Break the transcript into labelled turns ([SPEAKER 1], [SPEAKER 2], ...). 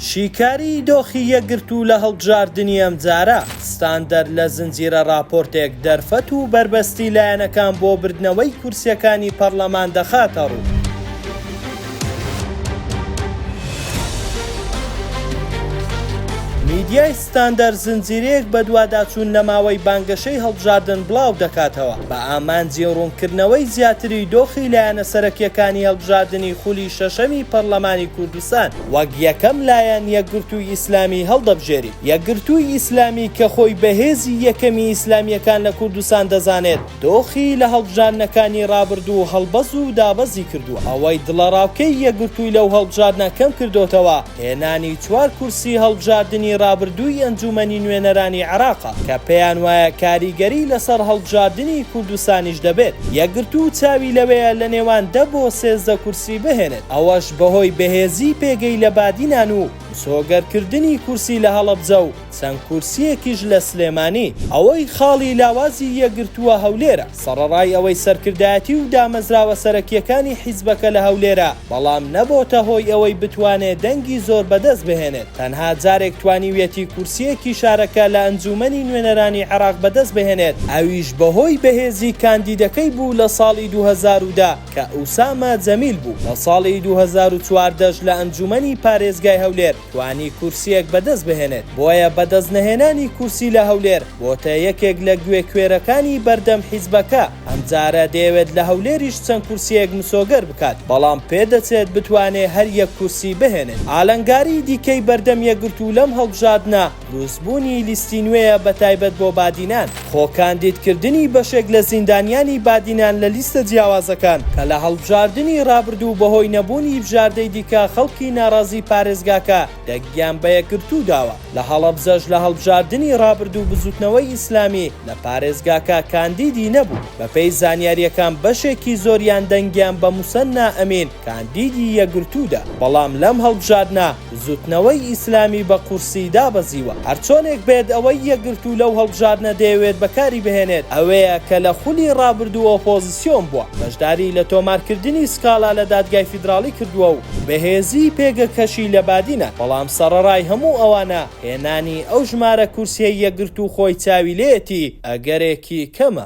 [SPEAKER 1] شیکاریی دۆخی یەکگرتوو لە هەڵبژاردنی ئەمجارە، ستاندەر لە زنجیرە ڕاپۆرتێک دەرفەت و بەربەستی لایەنەکان بۆ بردنەوەی کورسییەکانی پەڕلەمان دەخاتەڕوو. میدیای ستاندەر زنجیرەیەک بەدواداچوون لە ماوەی بانگەشەی هەڵبژاردن بڵاو دەکاتەوە بە ئامانجی ڕوونکردنەوەی زیاتری دۆخی لایەنە سەرەکییەکانی هەڵبژاردنی خولی شەشەمی پەڕلەمانی کوردستان. سان وەک یەکەم لایەن یەکگرتووی ئیسلامی هەڵدەبژێری. یەکگرتووی ئیسلامی کە خۆی بە هێزی یەکەمی ئیسلامییەکان لە کوردستان دەزانێت، دۆخی لە هەڵبژاردنەکانی ڕابردوو هەڵبەز و دابەزی کردووە. ئەوەی دڵەڕاوکێی یەکگرتووی لەو هەڵبژاردنە کەم کردۆتەوە، هێنانی چوار کورسی هەڵبژاردنی ڕابردووی ئەنجوومەنی نوێنەرانی عێراقە کە پێیانوایە کاریگەری لەسەر هەڵبژاردنی کوردستانیش دەبێت. یەکگرتوو چاوی لەوەیە لە نێوان دە بۆ سێزدە کورسی بهێنێت، ئەوەش بەهۆی بەهێزیی پێگەی لە بادینان و مسۆگەرکردنی کورسی لە هەڵەبجە و چەند کورسییەکیش لە سلێمانی، ئەوەی خاڵی لاوازی یەکگرتووە هەولێرە، سەڕەڕای ئەوەی سەرکردایەتی و دامەزراوە سەرەکییەکانی حیزبەکە لە هەولێرە، بەڵام نەبۆتە هۆی ئەوەی بتوانێ دەنگی زۆر بەدەست بهێنێت، تەنها جارێک توانیویەتی کورسییەکی شارەکە لە ئەنجوومەنی نوێنەرانی عێراق بەدەست بهێنێت، ئەویش بەهۆی بەهێزیی کاندیدەکەی بوو لە ساڵی دوو هەزار و دە. کە ئوسامە جەمیل بوو، لە ساڵی دوو هەزار و چواردە ش لە ئەنجوومەنی پارێزگای هەولێر توانی کورسییەک بەدەست بهێنێت، بۆیە بەدەست نەهێنانی کورسی لە هەولێر بۆتە یەکێک لە گوێ کوێرەکانی بەردەم حیزبەکە، ئەمجارە دەیەوێت لە هەولێریش چەند کورسییەک مسۆگەر بکات، بەڵام پێدەچێت بتوانێت هەر یەک کورسی بهێنێت. ئالنگاری دیکەی بەردەم یەکگرتوو لەم هەڵبژاردنە، دروستبوونی لیستی نوێیە بەتایبەت بۆ بادینان، خۆ کاندیدکردنی بەشێک لە زیندانیانی بادینان لە لیستە جیاوازەکان کە لە هەڵبژاردنی رابردوو بەهۆی نەبوونی بژاردەی دیکە خەڵکی ناڕازی پارێزگاکە دەنگیان بە یەکگرتوو داوە لە هەڵەبجەش لە هەڵبژاردنی رابردوو بزوتنەوەی ئیسلامی لە پارێزگاکە کاندیدی نەبوو بەپێی زانیاریەکان بەشێکی زۆریان دەنگیان بە موسەننا ئەمین کاندیدی یەکگرتوو دا بەڵام لەم هەڵبژاردنە بزوتنەوەی ئیسلامی بە قورسی دابەزیوە. هەرچۆنێک بێت ئەوەی یەکگرتوو لەو هەڵبژاردنە دەیەوێت بەکاری بهێنێت ئەوەیە کە لە خولی ڕابردوو ئۆپۆزسیۆن بووە بەشداری لە تۆمارکردنی سکاڵا لە دادگای فیدراڵی کردووە و بەهێزی پێگەکەشی لە بادینە، بەڵام سەڕەڕای هەموو ئەوانە هێنانی ئەو ژمارە کورسیەی یەکگرتوو خۆی چاوی لێیەتی ئەگەرێکی کەمە.